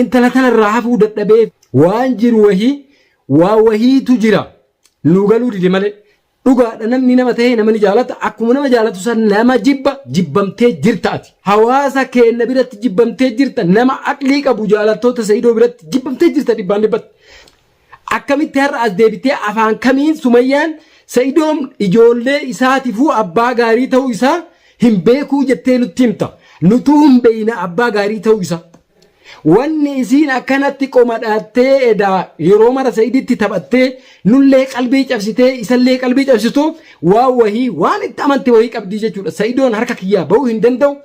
Intala tana irraa hafuu dadhabee waan jiru wahii waa wahiitu jira nuu galuu dide malee dhugaadha namni nama ta'ee nama ni jaalata akkuma nama jaalatu san nama jibba jibbamtee jirta ati hawaasa keenna biratti jibbamtee jirta nama aqlii qabu jaalattoota sa'idoo biratti jibbamtee jirta dhibbaan dhibbatti Akkamitti har'a as deebitee afaan kamiin Sumayyaan Sa'idoo ijoollee isaatifuu abbaa gaarii ta'uu isaa hin beekuu jettee nutti himta. Nutuu hin beeyna abbaa gaarii ta'uu isaa. Wanni isiin akkanatti qomadhaattee edaa yeroo mara Sa'iditti taphattee nullee qalbii cabsitee isallee qalbii cabsituuf waan wahii waan itti amante wahii qabdii jechuudha. Sa'idoon harka kiyyaa ba'uu hin danda'u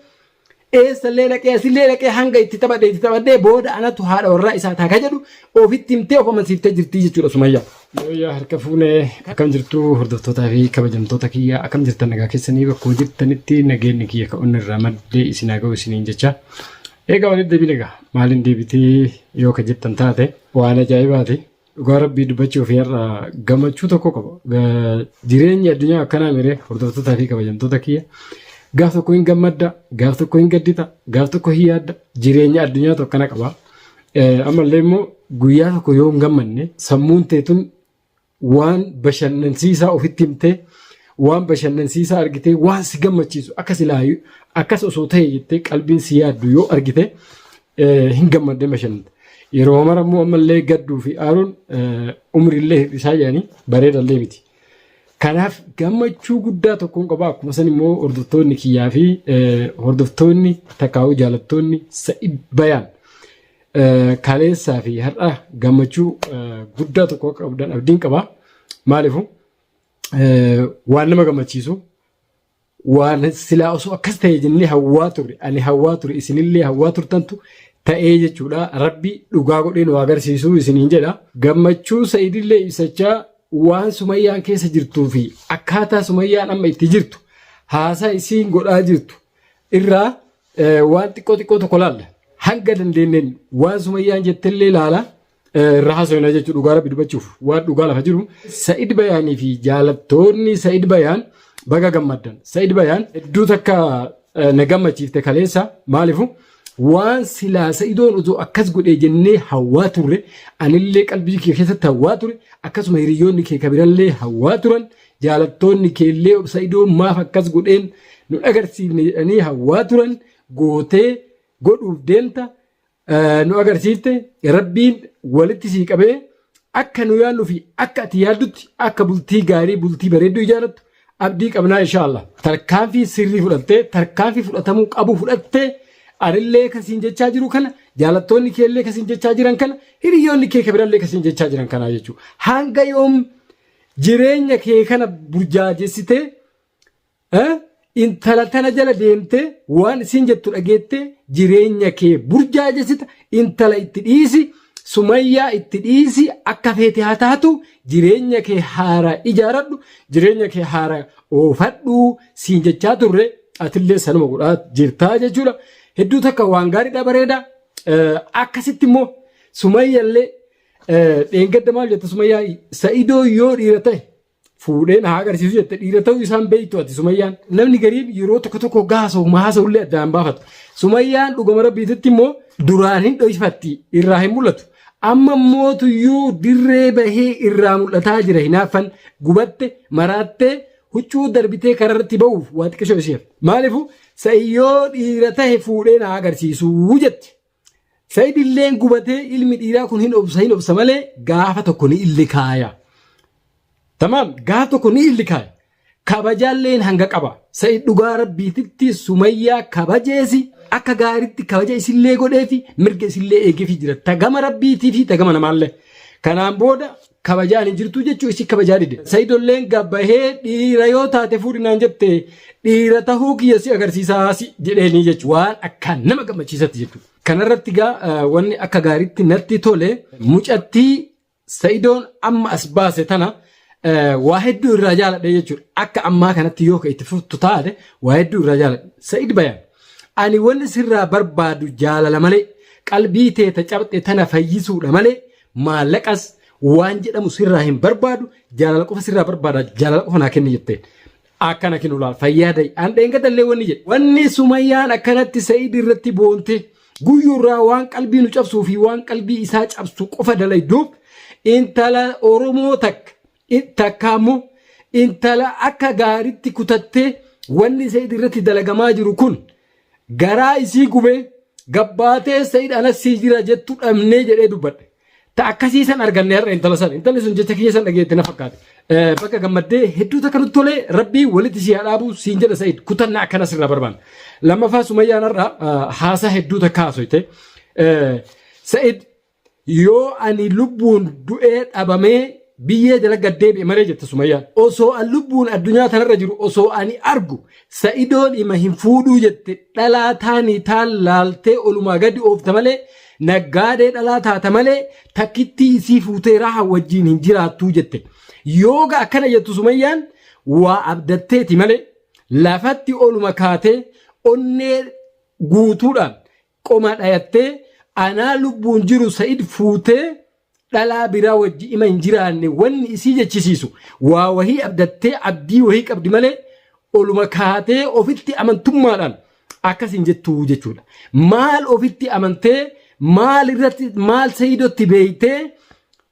Eessallee dhaqee asillee dhaqee hanga itti taphadhe itti taphadhee booda anatu haadha warraa isaa taaka jedhu ofitti himtee of amansiiftee jirti jechuudha Sumayyaa. Sumayyaa harka fuunee akkam jirtu hordoftootaa fi kabajamtoota kiyya akkam jirtan nagaa keessanii bakkuma jirtanitti nageenyi kiyya ka onni irraa maddee isin haa ga'u isiniin jecha. Egaa walitti deebiin egaa maaliin deebitee yoo ka jettan taate waan ajaa'ibaati. Dhugaa rabbii dubbachuuf har'a gammachuu tokko qaba. Ga- Jireenyi addunyaa akkanaa miree hordoftootaa fi kabajamtoota kiyya. Gaaf tokko hin gammadda, gaaf tokko hin gaddita, gaaf tokko hin yaadda. Jireenya addunyaatu akkana qaba. Eh, Ammallee immoo guyyaa tokko yoo hin gammanne sammuun teetun waan bashannansiisaa ofitti himtee waan bashannansiisaa argitee waan si gammachiisu akka silaayu akkas osoo ta'e jettee qalbiin si yaaddu yoo argite hin gammadde mashan yeroo mara immoo ammallee gadduu fi aaruun umriillee hir'isaa jedhanii bareedallee miti. Kanaaf gammachuu guddaa tokkoon qaba akkuma san immoo hordoftoonni kiyyaa fi hordoftoonni takkaawuu jaalattoonni sa'id bayaan kaleessaa fi har'a gammachuu guddaa tokko akka qabdan abdiin qaba. Maaliifuu waan nama gammachiisu waan silaa osoo akkas ta'e jennee hawwaa turre ani hawwaa ture isinillee hawwaa turtantu ta'ee jechuudha rabbi dhugaa godheen waa agarsiisuu isiniin jedha gammachuu sa'idillee ibsachaa waan sumayyaan keessa jirtuu fi akkaataa sumayyaan amma itti jirtu haasaa isiin godhaa jirtu irraa waan xiqqoo xiqqoo tokko laalla hanga dandeenyeen waan sumayyaan jettellee laala irra haasofna jechuun dhugaa rabbi dubbachuuf waan dhugaa lafa jiru Sa'id Bayaanii fi jaalattoonni Sa'id Bayaan baga gammaddan. Sa'id Bayaan hedduu takka eh, na gammachiifte kaleessa maalifu waan silaa Sa'idoon utuu akkas godhee jennee hawwaa turre anillee qalbii kee keessatti hawwaa ture akkasuma hiriyoonni kee kabirallee hawwaa turan jaalattoonni keellee Sa'idoon maaf akkas godheen nu dhagarsiifne jedhanii hawwaa turan gootee godhuuf deemta nu agarsiifte rabbiin walitti sii qabee akka nu yaadnu fi akka ati yaaddutti akka bultii gaarii bultii bareedduu ijaarattu abdii qabnaa inshaallah tarkaanfii sirrii fudhattee tarkaanfii fudhatamuu qabu fudhattee anillee kasiin jechaa jiru kana jaalattoonni keellee kasiin jechaa jiran kana hiriyoonni kee kabirallee kasiin jechaa jiran kanaa jechuudha hanga yoom jireenya kee kana burjaajessitee Eh? Intala tana jala deemtee waan isin jettu dhageettee jireenya kee burjaajessita intala itti dhiisi sumayyaa itti dhiisi akka feete haa taatu jireenya kee haara ijaaradhu jireenya kee haara oofadhu siin jechaa turre atillee sanuma godhaa jirtaa jechuudha hedduu takka waan gaariidha bareeda Eh, akkasitti immoo sumayyallee eh, dheengadda maal jette sumayyaa sa'idoo yoo dhiira ta'e fuudhee na haa agarsiisu jette dhiira ta'uu isaan beektu ati sumayyaan namni gariin yeroo tokko tokko gaasa'u maasa'u illee addaan baafatu sumayyaan dhugama rabbiititti immoo duraan hin dhoysifatti irraa hin mul'atu amma mootuyyuu dirree bahee irraa mul'ataa jira hinaaffan gubatte maraattee huccuu darbitee kararratti ba'uuf waa xiqqishoo isheef maalifu sa'iyyoo dhiira ta'e fuudhee na haa agarsiisu jette Said illeen gubatee ilmi dhiiraa kun hin obsa hin obsa malee gaafa tokko ni illi kaaya. Tamaam gaafa tokko ni illi kaaya. Kabajaalleen hanga qaba. Said dhugaa rabbiititti sumayyaa kabajeesi akka gaariitti kabaja isillee godheefi mirga isillee eegeefi jira. Tagama rabbiitii fi tagama namaallee. Kanaan booda kabajaan hin jirtuu jechuu isii kabajaa dide. Sayidolleen gabbahee dhiira yoo taate fuudhi naan jette dhiira tahuu kiyya si agarsiisaa si jedheenii jechuun waan akkaan nama gammachiisatti jechuudha. Kanarratti gaa wanni akka gaariitti natti tole mucattii sayidoon amma as baase tana waa hedduu irraa jaaladhe jechuudha. Akka ammaa kanatti yoo itti fuftu taate waa hedduu irraa jaaladhe. Sayid bayaan ani wanni sirraa barbaadu jaalala malee qalbii teeta cabxe tana fayyisuudha malee Maallaqas waan jedhamu sirraa hin barbaadu jaalala qofa sirraa barbaada jaalala qofa naa kenni jetteen. Akkana kinu laal fayyaa da'i an dheengadda illee wanni jedhe. Wanni sumayyaan akkanatti sa'iid irratti boonte guyyurraa waan qalbii nu cabsuu fi waan qalbii isaa cabsu qofa dalayduuf intala Oromoo takka Takka ammoo intala akka gaaritti kutattee wanni Sayid irratti dalagamaa jiru kun garaa isii gubee gabbaatee Sayid anas sii jira jettu dhabnee jedhee dubbadhe. Ta akkasii san arganne har'a intala san. Intalli sun jecha kiyya san dhageette na fakkaate. Bakka gammaddee hedduu takka nutti tolee rabbii walitti si haadhaabu siin jedha Sayid kutannaa akkana sirraa barbaanna. Lammaffaa Sumayyaan har'a haasaa hedduu takka haasoyte. Sayid Yoo ani lubbuun du'ee dhabamee biyyee jala gad deebi'e malee jette Sumayyaan. Osoo an lubbuun addunyaa tanarra jiru osoo ani argu Sa'idoon ima hin fuudhuu jette dhalaa taanii taan laaltee olumaa gadi oofta malee naggaadee dhalaa taata malee takkittii isii fuutee raha wajjiin hin jiraattuu jette. Yooga akkana jettu Sumayyaan waa abdatteeti malee lafatti oluma kaatee onnee guutuudhaan qomaa dhayattee anaa lubbuun jiru sa'id fuutee dhalaa biraa wajji ima hin jiraanne wanni isii jechisiisu waa wahii abdattee abdii wahii qabdi malee oluma kaatee ofitti amantummaadhaan akkas hin jettuu jechuudha. Maal ofitti amantee maal irratti maal sayidotti beeytee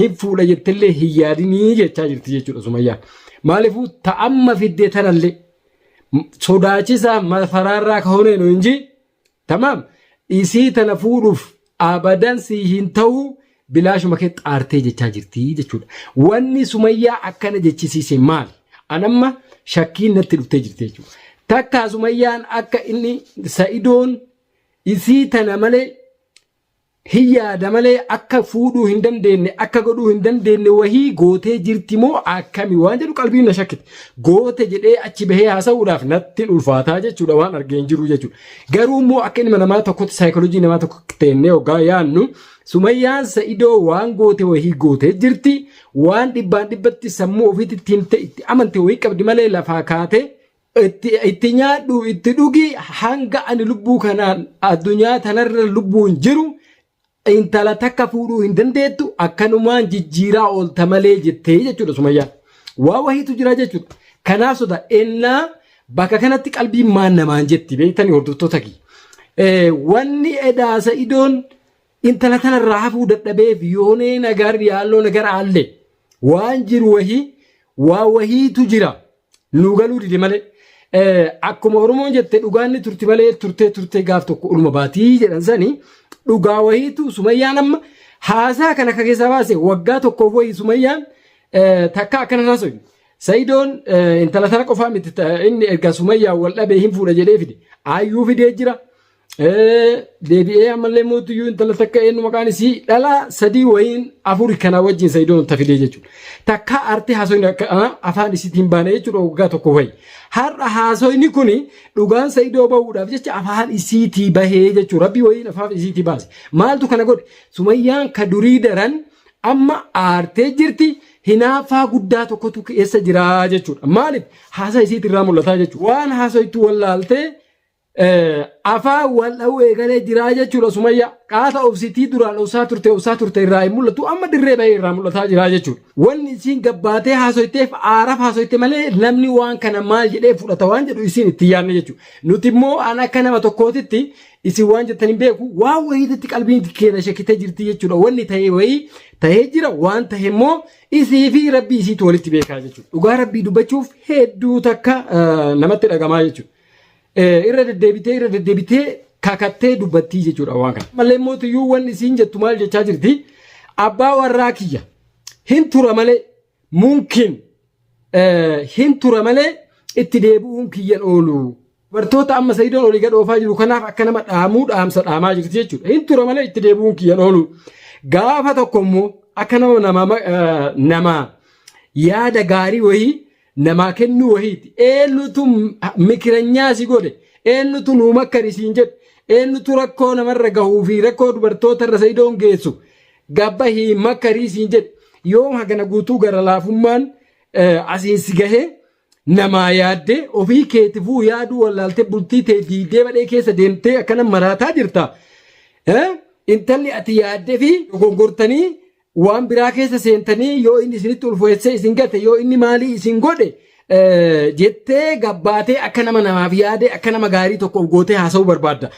hin fuudha jettellee hin yaadinii jechaa jirti jechuudha sumayyaan maaliifuu ta'amma fiddee tanallee sodaachisaa mafaraarraa kahoonee nu inji tamaam isii tana fuudhuuf abadan sii hin ta'uu bilaashuma kee xaartee jechaa jirti jechuudha wanni sumayyaa akkana jechisiise maali anamma shakkiin natti dhuftee jirti jechuudha takkaa sumayyaan akka inni sa'idoon isii tana malee Hin yaada malee akka fuudhuu hin dandeenne akka godhuu hin dandeenne wahii gootee jirti moo akkami waan jedhu qalbiin na shakkite. Goote jedhee achi bahee haasa'uudhaaf nattin ulfaataa jechuudha waan argee hin jiru jechuudha. Garuu immoo akka ilma namaa tokkotti saayikoolojii namaa tokko teennee hoggaa yaannu sumayyaan sa'idoo waan goote wahii gootee jirti waan dhibbaan dhibbatti sammuu ofiitti itti himte itti amante wahii qabdi malee lafaa kaatee Itti, itti nyaadhu, itti dhugi hanga ani lubbuu kanaan addunyaa tanarra lubbuun jiru intala takka fuudhuu hin dandeettu akkanumaan jijjiiraa oolta malee jettee jechuudha Sumayyaan. Waa wahiitu jira jechuudha. Kanaa soda ennaa bakka kanatti qalbiin maan namaan jetti beektanii hordoftoota kiyya. Eh, Wanni edaasa idoon Intala tana irraa hafuu dadhabeef yoonee nagar yaalloo nagar aalle waan jiru wahii waa wahiitu jira nu galuu dide malee Eh, akkuma Oromoon jette dhugaan ni turti malee turtee turtee gaaf tokko uluma baatii jedhan sani dhugaa wahiitu sumayyaan amma haasaa kana akka keessaa baase waggaa tokkoof wahii sumayyaan eh, takka akkana haasofne. Sayidoon eh, intala tana qofaa miti ta- inni erga sumayyaa wal dhabee hin fuudha jedhee fide. Ayyuu fidee jira. Eh, deebi'ee ammallee mootiyyuu intala takka eenyu maqaan isii dhala sadii wayiin afuri kanaa wajjin sayidoon ta fidee jechuudha. Takka arti haasoyni akka ah, afaan isiitti hin baane jechuudha waggaa tokko wayi. Har'a haasoyni kuni dhugaan sayidoo bahuudhaaf jecha afaan isiitii bahee jechuudha. Rabbii wayiin afaan isiitii baase. Maaltu kana godhe? Sumayyaan ka durii daran amma aartee jirti hinaaffaa guddaa tokkotu keessa jira jechuudha. Maaliif? Haasaa isiitirraa mul'ataa jechuudha. Waan haasoytu wallaaltee Eh, afaan wal dha'uu eegalee jiraa jechuudha sumayyaa qaata obsitii duraan obsaa turte obsaa turte irraa hin mul'atu amma dirree bahee irraa mul'ataa jiraa jechuudha wanni isiin gabbaatee haasoyteef aaraaf haasoyte malee namni waan kana maal jedhee fudhata waan jedhu isiin itti yaadne jechuudha nuti immoo an akka nama tokkootitti isin waan jettan hin beeku waan wayiititti qalbiin keenya shakkitee jirti jechuudha wanni ta'ee wayii ta'ee jira waan ta'e immoo isii fi rabbii isiitu walitti beekaa jechuudha dhugaa rabbii dubbachuuf hedduu takka eh, namatti dhagamaa jechuudha. Eh, irra deddeebitee irra deddeebitee kakattee dubbattii jechuudha waan kana. Malee mootiyyuu wanni isiin jettu maal jechaa jirti? Abbaa warraa kiyya hin tura malee mumkin eh, hin tura malee itti deebi'uun kiyyan oolu. Bartoota amma Sayidoon olii gad oofaa jiru kanaaf akka nama dhaamuu dhaamsa dhaamaa jirti jechuudha. Hin tura malee itti deebi'uun kiyyan oolu. Gaafa tokko immoo akka nama nama eh, nama yaada gaarii wayii namaa kennuu wahiiti. Eenyutu mikiranyaa si godhe? Eenyutu nuu makkari siin jedhe? Eenyutu rakkoo namarra gahuu fi rakkoo dubartootarra sayidoon geessu? Gabba hii makkarii siin jedhe. Yoom hagana guutuu gara laafummaan eh, asiin si gahee namaa yaadde ofii keetifuu yaaduu wallaaltee bultii tee diigdee badhee keessa deemtee akkana maraataa jirta. Eh, Intalli ati yaadde fi dogongortanii waan biraa keessa seentanii yoo inni isinitti ulfeessee isin gate yoo inni maalii isin godhe eh, jettee gabbaatee akka nama namaaf yaadee akka nama gaarii tokko of gootee haasa'uu barbaadda.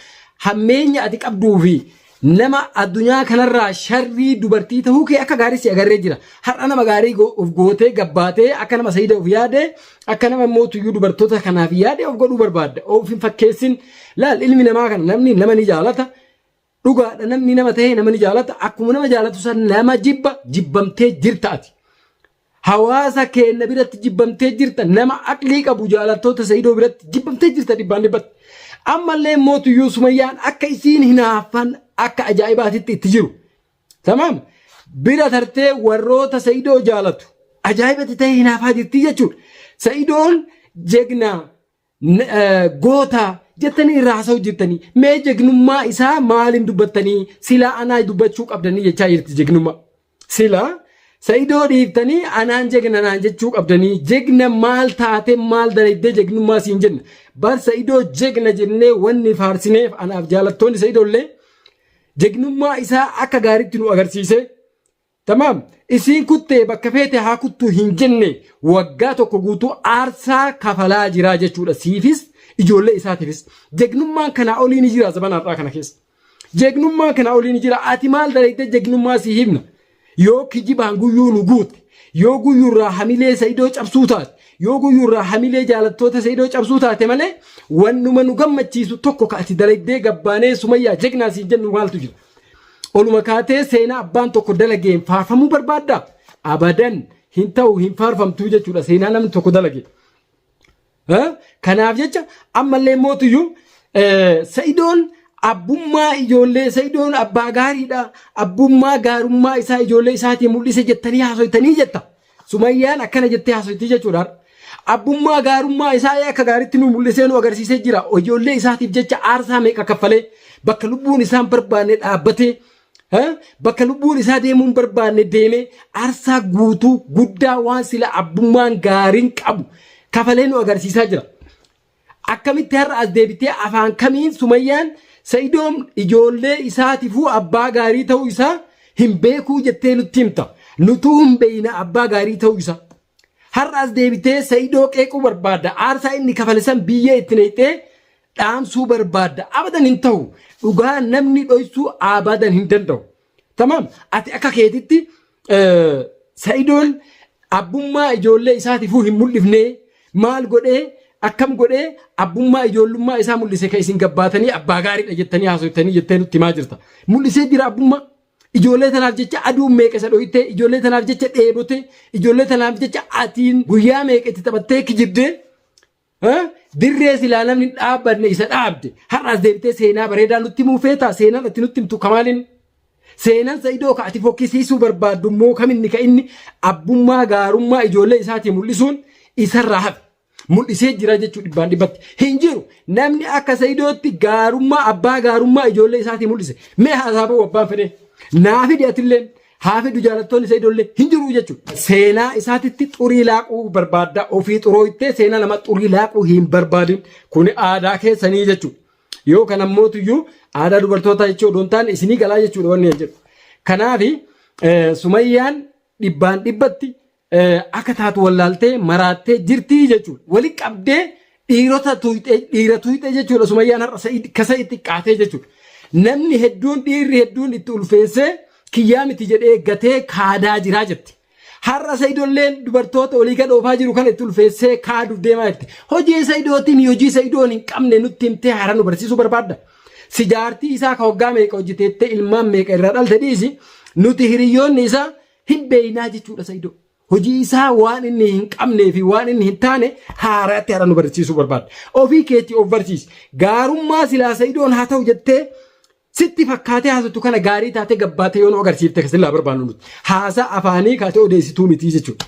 Hammeenya ati qabduu fi nama addunyaa kanarraa sharrii dubartii ta'uu kee akka gaarii si agarree jira. Har'a nama gaarii go- of gootee gabbaatee akka nama sayida of yaadee akka nama immoo tuyyuu dubartoota kanaaf yaadee of godhuu barbaadda. Of hin fakkeessin. Laal ilmi namaa kana namni nama ni jaalata. Dhugaadha namni nama ta'ee nama ni jaalata akkuma nama jaalatu san nama jibba jibbamtee jirta ati. Hawaasa keenya biratti jibbamtee jirta nama aqlii qabu jaalattoota Sa'idoo biratti jibbamtee jirta dhibbaan dhibbatti. Ammallee mootuyyuu Sumayyaan akka isiin hinaaffan akka ajaa'ibaatitti itti jiru. Tamaam bira tartee warroota Sa'idoo jaalatu ajaa'ibatti ta'ee hinaafaa jirti jechuudha. Sa'idoon jegnaa N- eh, goota jettanii irraa haasa'u jirtanii mee jegnummaa isaa maaliin dubbattanii silaa anaa dubbachuu qabdanii jechaa jirti jegnummaa silaa sa'idoo dhiiftanii anaan jegna naan jechuu qabdanii jegna maal taate maal dalaydee jegnummaa siin jenna bar sa'idoo jegna jennee wanni faarsineef anaaf jaalattoonni sa'idoo illee jegnummaa isaa akka gaariitti nu agarsiise Tamaam isiin kuttee bakka feete haa kuttuu hin jenne waggaa tokko guutuu aarsaa kafalaa jiraa jechuudha siifis ijoollee isaatiifis jegnummaan kanaa olii ni jira zabana har'aa kana keessa jegnummaan kanaa olii ni jira ati maal dalaydee jegnummaa si himna yoo kijibaan guyyuu nu guute yoo guyyuu irraa hamilee sa'idoo cabsuu taate yoo guyyuu irraa hamilee jaalattoota sa'idoo cabsuu taate malee wannuma nu gammachiisu tokko ka ati dalaydee gabbaanee sumayyaa jegnaa siin jennu maaltu jira Oluma kaatee seenaa abbaan tokko dalageen faarfamuu barbaaddaa? Abadan hin ta'u hin faarfamtuu jechuudha seenaa namni tokko dalage. Kanaaf jecha ammallee mootuyyuu sa'idoon abbummaa ijoollee sa'idoon abbaa gaariidha abbummaa gaarummaa isaa ijoollee isaatiin mul'ise jettanii haasofitanii jetta. Sumayyaan akkana jettee haasofti jechuudha. Abbummaa gaarummaa isaa akka gaariitti nu mul'isee nu agarsiisee jira. Ijoollee isaatiif jecha aarsaa meeqa kaffalee bakka lubbuun isaa hin barbaanne dhaabbatee eh, bakka lubbuun isaa deemuu hin barbaanne deemee aarsaa guutuu guddaa waan sila abbummaan gaariin qabu kafalee nu agarsiisaa jira. Akkamitti har'a as deebitee afaan kamiin Sumayyaan Sa'idoon ijoollee isaatifuu abbaa gaarii ta'uu isaa hin beekuu jettee nutti himta. Nutuu hin beeyna abbaa gaarii ta'uu isaa. Har'a as deebitee Sa'idoo qeequu barbaadda. Aarsaa inni kafale san biyyee itti neeyxee dhaamsuu barbaadda. Abadan hin ta'u. Dhugaa namni dhoysuu abadan hin danda'u. Tamaam ati akka keetitti sa'idoon abbummaa ijoollee isaatifuu hin mul'ifne maal godhee akkam godhee abbummaa ijoollummaa isaa mul'ise kan isin gabbaatanii abbaa gaariidha jettanii haasoftanii jettee nutti himaa jirta. Mul'isee jira abbummaa ijoollee tanaaf jecha aduun meeqa isa dhohittee ijoollee tanaaf jecha dheebote ijoollee tanaaf jecha atiin guyyaa meeqa itti taphattee kijibdee Dirree silaa namni dhaabbanne isa dhaabde har'aas deemtee seenaa bareedaa nutti himuu feetaa seenaan ati nutti himtu kamaaliin seenaan sa'idoo ka ati fokkisiisuu barbaaddu immoo kaminni ka inni abbummaa gaarummaa ijoollee isaatii mul'isuun isarraa hafe mul'isee jira jechuu dhibbaan dhibbatti hin jiru namni akka sa'idootti gaarummaa abbaa gaarummaa ijoollee isaatii mul'ise mee haasaabuu abbaan fedhee naa fidi atilleen Haa fidu jaalattoonni Saidollee hin jiruu jechuudha. Seenaa isaatitti xurii laaquu barbaadda ofii xurooytee seenaa nama xurii laaquu hin barbaadin kuni aadaa keessanii jechuudha. Yoo kan ammootuyyuu aadaa dubartootaa jechuu odoo hin taane isinii galaa jechuudha wanni jedhu. Kanaafi Sumayyaan dhibbaan dhibbatti akka taatu wallaaltee maraattee jirtii jechuudha. Wali qabdee dhiirota tuuxee dhiira tuuxee jechuudha. Sumayyaan har'a sa'id kasa itti qaatee jechuudha. Namni hedduun dhiirri hedduun itti ulfeessee kiyyaa miti jedhee gatee kaadaa jiraa jirti. Har'a sa'idolleen dubartoota olii gad oofaa jiru kan itti ulfeessee kaaduuf deemaa jirti. Hojii sa'idootiin hojii sa'idoon hin qabne nutti himtee haaraa nu barsiisuu barbaadda. Si jaartii isaa ka waggaa meeqa hojjeteettee ilmaan meeqa irraa dhalte dhiisi nuti hiriyyoonni isaa Hin beeynaa jechuudha Saidoo. Hojii isaa waan inni hin qabnee fi waan inni hin taane haaraatti haara nu barsiisuu barbaadda. Ofii keetti of barsiisi. Gaarummaa silaa Saidoon haa ta'u jettee sitti fakkaatee haasatu kana gaarii taatee gabbaatee yoo nu agarsiifte silaa barbaannu nuti. Haasaa afaanii kaatee odeessituu mitii jechuudha.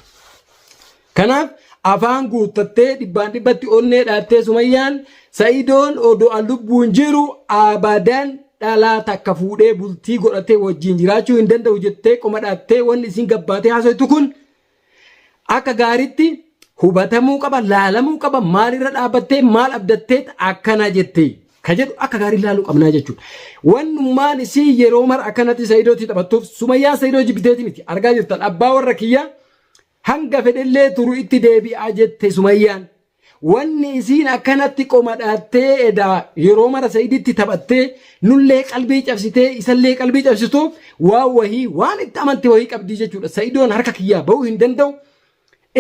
Kanaaf afaan guuttattee dhibbaan dhibbatti onnee dhaattee Sumayyaan Sa'idoon odo'a lubbuun jiru abadan dhalaa takka fuudhee bultii godhatee wajjin jiraachuu hin danda'u jettee qoma dhaattee wanni isiin gabbaatee haasoytu kun akka gaariitti hubatamuu qaba laalamuu qaba maalirra dhaabbattee maal abdattee akkana jettee ka jedhu akka gaarii laaluu qabnaa jechuudha. Wannummaan isii yeroo mara akkanatti Sa'idootti taphattuuf Sumayyaan Sa'idoo jibbiteeti miti argaa jirtan abbaa warra kiyyaa Hanga fedhellee turu itti deebi'aa jette Sumayyaan. Wanni isiin akkanatti qomadhaattee edaa yeroo mara Sa'iditti taphattee nullee qalbii cabsitee isallee qalbii cabsituuf waan wahii waan itti amante wahii qabdii jechuudha. Sa'idoon harka kiyyaa ba'uu hin danda'u.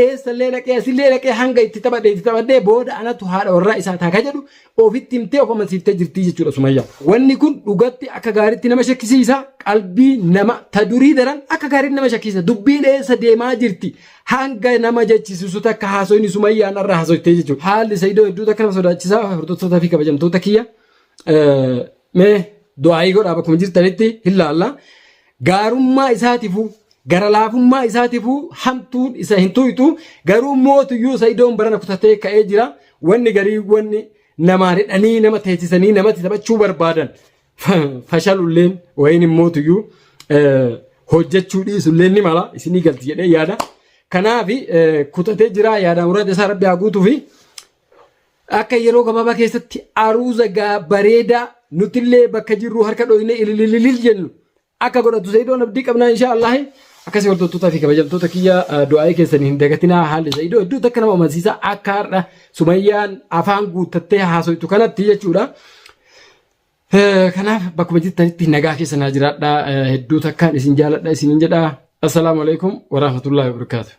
Eessallee dhaqee asillee dhaqee hanga itti taphadhe itti taphadhee booda anatu haadha warraa isaa taaka jedhu ofitti himtee of amansiiftee jirtii jechuudha Sumayyaa. Wanni kun dhugatti akka gaaritti nama shakkisiisa qalbii nama ta durii daran akka gaaritti nama shakkisiisa dubbiin eessa deemaa jirti hanga nama jechisiisu takka haasoyni Sumayyaan irra haasoytee jechuudha. Haalli Saidoo hedduu takka nama sodaachisaa hordoftoota fi kabajamtoota kiyya mee du'aayii godhaa bakkuma jirtanitti hin laalla. gaarummaa isaatifuu gara laafummaa isaatifuu hamtuun isa hin tuytu garuu mootuyyuu isa idoon barana kutatee ka'ee jira wanni garii wanni namaan hidhanii nama teessisanii namatti taphachuu barbaadan fashalulleen wayiin hin mootuyyuu hojjechuu dhiisulleen ni mala isinii galti jedhee yaada. Kanaaf kutatee jira yaadaan muraasa isaa rabbi haa guutuu fi Akka yeroo gabaabaa keessatti aruuza gaa bareedaa nutillee bakka jirru harka dhooynee ililililil jennu akka godhatu Zayidoon abdii qabnaa inshaa Allaahi. Akkasii hordottootaa fi kabajamtoota kiyya ah, du'aa'ii keessan hin dagatinaa haalli Zayidoo hedduu takka nama amansiisa akka har'a Sumayyaan afaan guuttattee haasoytu kanatti jechuudha. Eh, Kanaaf bakkuma jirtanitti nagaa keessa naa jiraadha. Eh, Hedduu takkaan isin jaaladha isinin jedha. Assalaamu alaikum warahmatullahi wabarakatuh.